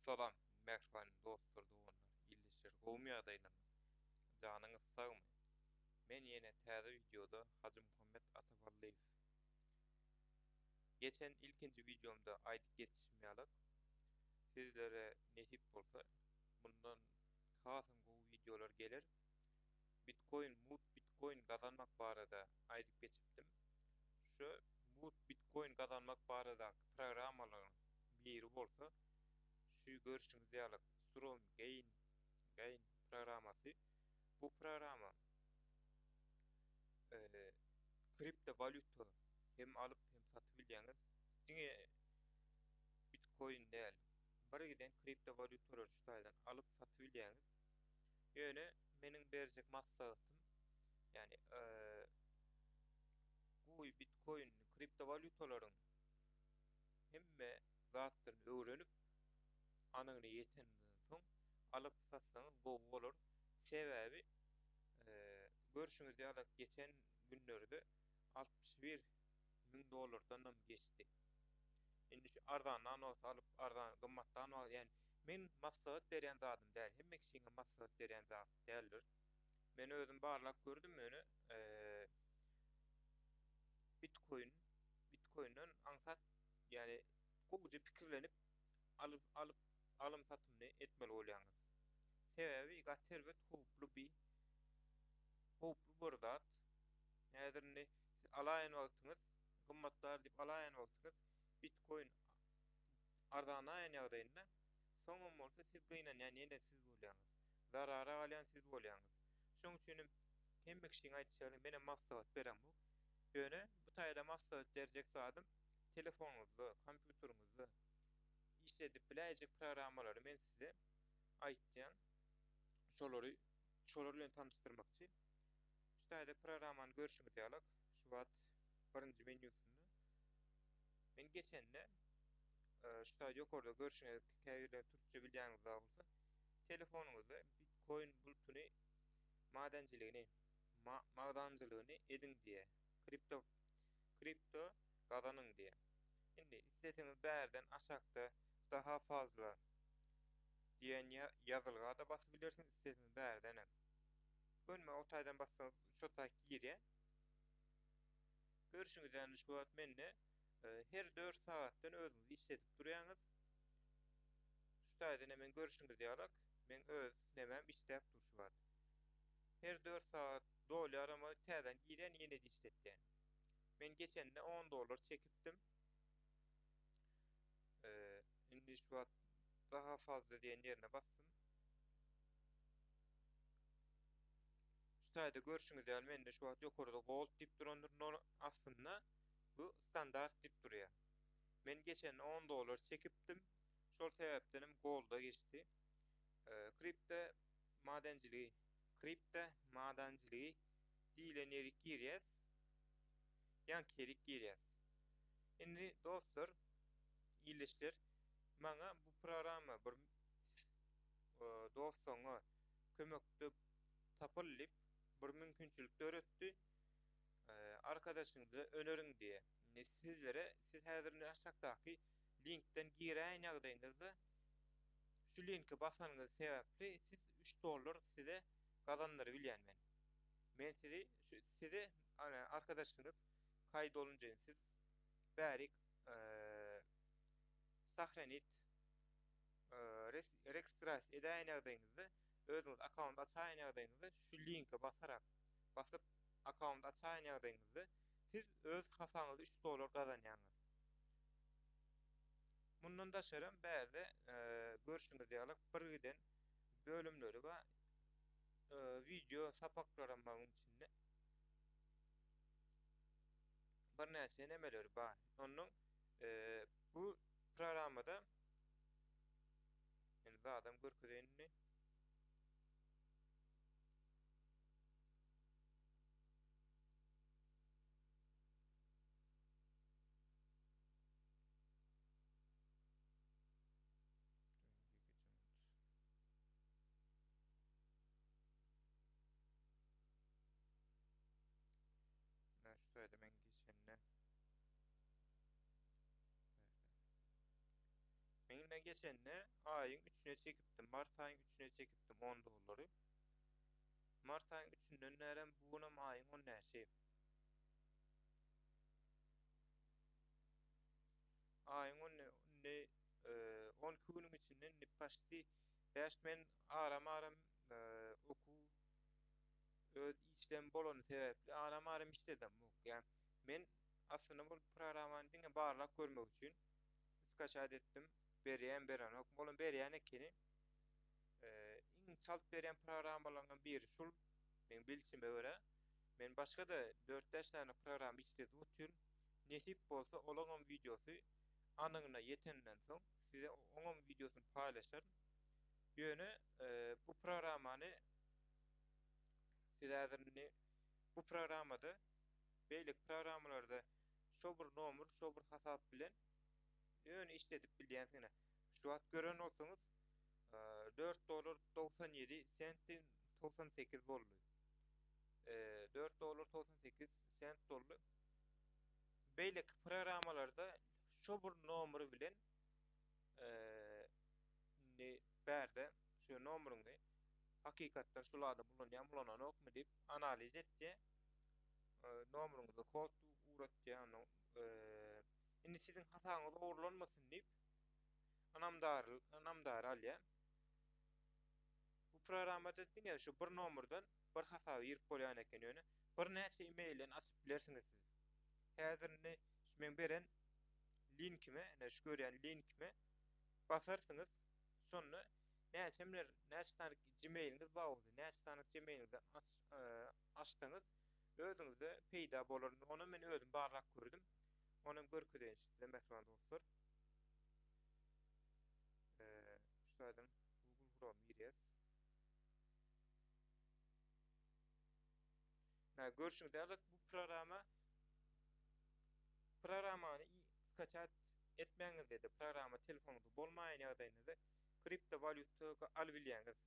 Salam mähriban dostlar doganlar ildeşler gowmy ýagdaýlaryňyz janyňyz sagmy men ýene täze wideoda Hajymuhammet Ataballyýew geçen ilkinji wideomda aýdyp geçişim ýalak sizlere nesip bolsa mundan hasam gowy wideolar geler. Bitcoin mut bitcoin gazanmak barada aýdyp geçipdim. Şu mut bitcoin gazanmak baradaky programmalaryň biri bolsa şu görüşiňiz ýaly Strom gain gain programmasy. Bu programma eee kripto walýuta hem alyp hem satyp bilýäňiz. Diňe bitcoin däl. Bir giden kripto walýutalary şu taýdan alyp satyp bilýäňiz. Ýöne meniň berjek maslahatym, ýagny goý bitkoin, kriptowalýutalaryň hemme zatlaryny öwrenip, anygyna ýeteniňizden soň alyp satsaňyz gowy bolar. Sebäbi görşüňiz ýaly geçen günlerde altmyş bir müň dollardanam geçdi. Indi şu arzandan wagty alyp, arzan gymmatdan wagty, ýagny men maslahat berýän zadym däl, hemme kişiňe maslahat berýän zat däldir. Men özüm barlap gördüm, ýöne Bitkoin, Bitkoinden aňsat, ýagny gowuja pikirlenip alyp, alyp, alym-satymyny etmeli bolýaňyz. Sebäbi gaty erbet howply bir, howply bir zat. Häzir indi. alaýan wagtyňyz, gymmatlar diýip alaýan wagtyňyz bitkoin arzanaýan ýagdaýynda, soňam bolsa siz gynanýan ýene siz bolýaňyz. Zarara galýan siz bolýaňyz. Şonuň üçin hem hemme kişiň aýtýaly, menem maslahat beremok. Ýöne bu taýda maslahat berjek zadym, telefonyňyzda, kompýuteriňizde işledip biläýjek programmalary men size aýtýan. Şolary, şolar bilen tanyşdyrmakçy. Skype programmany görşüňiz ýaly şu wagt birinji menýusynda. Men geçende şu wagt ýokarda görşüňiz käbirleri türkçe bilýäňiz bar bolsa telefonyňyzda bitkoin bultuny madençiligini magdanjylygyny ediň diýe. Kripto kripto gazanyň diýe. Indi isleseňiz bärden aşakda daha fazla diýen ýazylgada basyp bilersiňiz isleseňiz bärden hem. Gönüme o taýdan bassaňyz şo taý girýä. Görüşiňiz ýaly şu wagt mende e, her 4 sagatdan özüňiz işledip durýaňyz. Şu taýdan hem men görüşiňiz ýaly men öz nemem işläp dur şu wagt. Her 4 sagat dolýar ama täzeden girýän ýene işletýän. Men geçende 10 dollar çekipdim. Ee, indi şu wagt daha fazla diýen ýerine basdym. Şu taýda görşüňiz ýaly mende şu wagt ýokarda gold diýip durandyr nol astynda bu standart diýip durýar. Men geçen on dollar çekipdim şol sebäpdenem golda geçdi. Kripto madençiligi kripto madançiligi diýlen ýerik girýäs. Ýaňky ýerik girýäs. Indi dostlar ildeşler maňa bu programma bir dost-soňňa kömekde tapyl diýip, bir mümkinçilik döretdi. Arkadaşyňyza öneriň diýe. Indi sizlere, siz häzir indi aşakdaky linkden giräýen ýagdaýyňyzda, şu linke basanyňyz sebäpli siz üç dollar size gazandyrybilýän men. Men sizi, şu size arkadaşyňyz kaýyt olunjyny siz bärik sahranit Registrasiýa edäýen ýagdaýyňyzda, özüňiz akkaunt açaýan ýagdaýyňyzda şu linke basarak, basyp akkaunt açaýan ýagdaýyňyzda siz öz hasabyňyza üç dollar gazanýaňyz. Mundan daşaram bärde görşüňiz ýaly bir giden bölümleri bar. Wideo sapaklaram bar munuň içinde. Birnäçe nemeleri bar. Ondan bu programmada Men zadam görkezeýin indi. Şu taýda men geçende Men ine geçende aýyň üçüne çekipdim, mart aýyň üçüne çekipdim on dollary. Mart aýyň üçünden bärem bu günüm aýyň on näçe? Aýyň on ne, ne, e, on iki günüň içinde indi paşti bäş men aram-aram e, okuw öz işlem bolany sebäpli aram-aram işledim. Yani men Aslynda bul programany diňe barlap görmek üçin skaçat etdim berýän berenok bolan berýän ekeni iň çalt berýän programalarynyň biri şul meň bilşime görä men başgada dört bäş sany program işledip otyryn nesip bolsa olaňam wideosy anygyna ýetenden soň size oňam wideosyny paýlaşaryn ýöne bu programany siz häzir indi bu programada beýleki programmalarda şo bir nomer, şo bir hasap bilen ýöne işledip bilýänsiňiz. Şu wagt gören bolsaňyz, dört dollar togsan ýedi sent togsan sekiz boldy. Dört dollar togsan sekiz sent boldy. Beýleki programmalarda şo bir nomer bilen Indi bärde şu nomeriňi hakykatdan şul adam ulanýarmy ulananokmy diýip analiz etdi. Nomeriňize kod uratdy. Ondan indi siziň hasabyňyz ogurlanmasyn diýip anamdar anamdar alýar. Bu programmada diňe şu bir nomerden bir hasaba girip bolýan eken ýöne bir näçe emailden açyp bilersiňiz siz häzir indi şu meň beren linkime ine şu görýän linkime basarsyňyz şonda näçe biler näçe sany gmailiňiz bar bolsa näçe sany gmailiňizden aç e, açsaňyz özüňize peýda bolar ony men özüm barlap gördüm ony hem görkezeýin size mähriban dostlar e, şu saýdyň google chrome girýäs Hä, görşüňiz ýaly, bu programa programany skaçat etmäňizde-de, programa telefonyňyzda bolmaýan ýagdaýynda-da kriptowalýuta alyp bilýäňiz.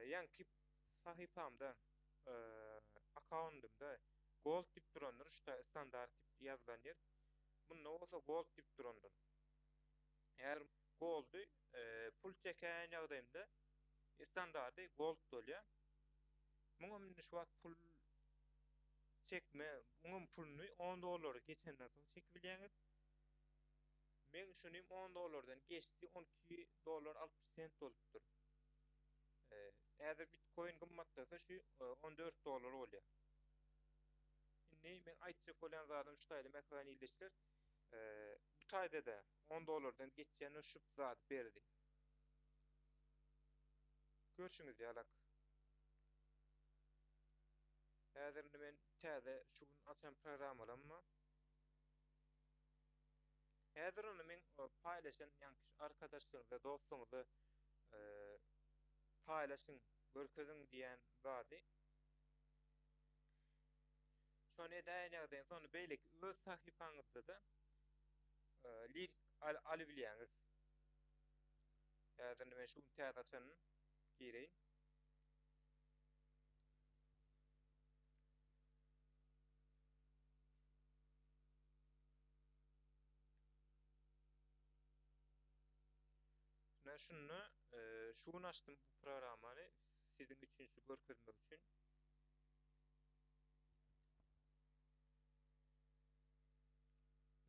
Ýaňky sahypamda, akkaundymda Gold diýip durandyr, şu-da Standard diýip ýazylan ýer. Munda bolsa Gold diýip durandyr. Häzir goldy pul çekän ýagdaýymda standardy gold bolýar. Muňam indi şu wagt pul çekme, muňam puluny 10 dollary geçenden soň çekip bilýäňiz. Men şuny 10 dollardan geçdi, 12 dollar 60 sent bolupdyr. Häzir bitcoin gymmatlasa şu 14 dollar bolýar. Indi men aýtjak bolýan zadym şu taýly mähriban ildeşler. Bu taýda-da on dollardan geçýän o şüp zady berdi. Görşüňiz ýalak. Häzir indi men täze şu gün açan programmalamma Häzir ony men paýlaşan ýankyş arkadaşlaryňyza, dostuňyza e, paýlaşyň, görkeziň diýen zady. Şony edäýen ýagdaýyňyz onda beýleki öz sahypaňyzda-da link alybilýäňiz. Häzir men şu gün täze açanyn gireýin. Men şunda e, şu gün açdym bu programmany siziň üçin şu görkezmek üçin.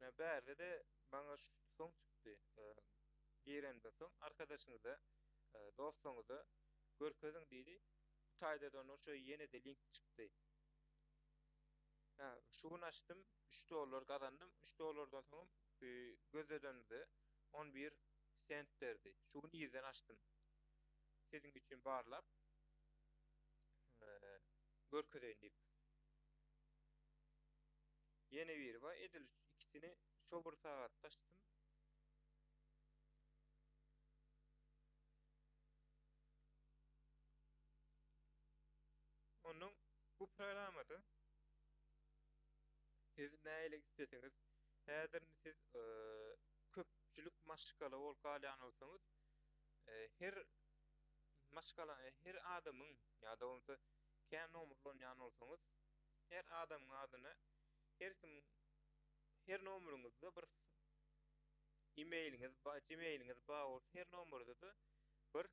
Ýa bärde-de maňa soň çykdy. Girenden soň arkadaşyňyza, dostuňyza görkeziň diýdi. Bu taýdadan oşa ýene-de link çykdy. Hä, şu gün açdym, üç dollar gazandym. Üç dollardan soňam gözledenimde on bir sent berdi. Şu gün irden açdym. Siziň üçin barlap, görkezeýin diýip. Ýene biri bar, edil ikisini şo bir sagatda açdym. Onuň bu programmada siz näle isteseňiz, häzir siz köpçülik maşgala bolup galýan bolsaňyz, her Maşgala, her adamyň, ýa-da bolmasa kän nomerlanýan bolsaňyz, her adamyň adyna her kim her nomeryňyzda bir e-mailiňiz bar, gmailiňiz bar bolsa her nomerde-de bir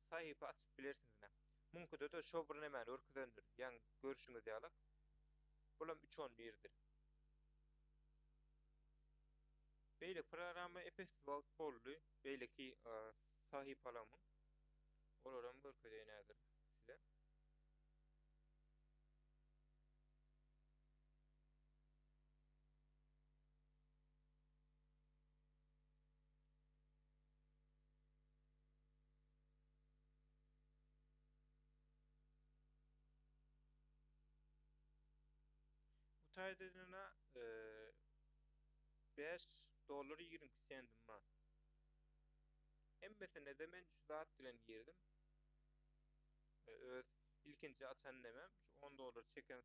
sahypa açyp bilersiňiz ine. Muňkyda-da şo bir nämäni görkezendir, ýaňy görşüňiz ýalak, bulam üç on birdir. Beýleki programma epes wagt boldy. Beýleki sahypalamyň olaram görkezeýin häzir size. Bu taýda ýene 5 dollar 22 sentim bar. Hemmesinde-de men şu zat bilen girdim. Öz ilkinji açan nemem 10 dollar çeken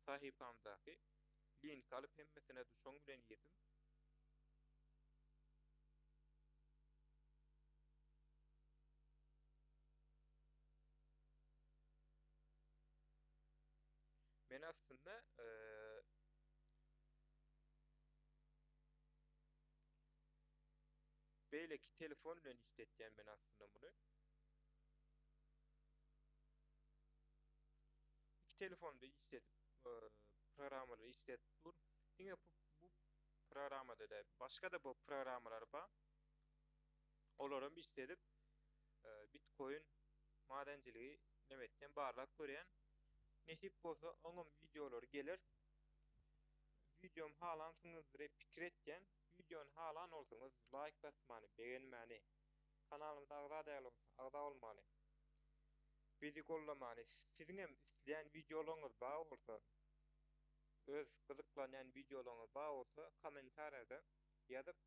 sahypamdaky link alyp hemmesine şoň bilen girdim. Men aslynda beýleki telefon bilen istetýän men aslynda muny. Iki telefonda istetip programmalary istetip dur. Diňe bu programmada da başga da bu programmalar bar. olaram iş sedip bitkoin madençiligi nebetden barlap görýän nesip bolsa oňam wideolary geler videom halansyňyzdyr pikir etýän videony halan bolsaňyz laýk basmany begenmäni kanalymyza agza däl bolsa agza bolmany bizi gollamany siziňem isleýän wideolaryňyz bar bolsa öz gyzyklanýan wideolaryňyz bar bolsa kommentariýada ýazyp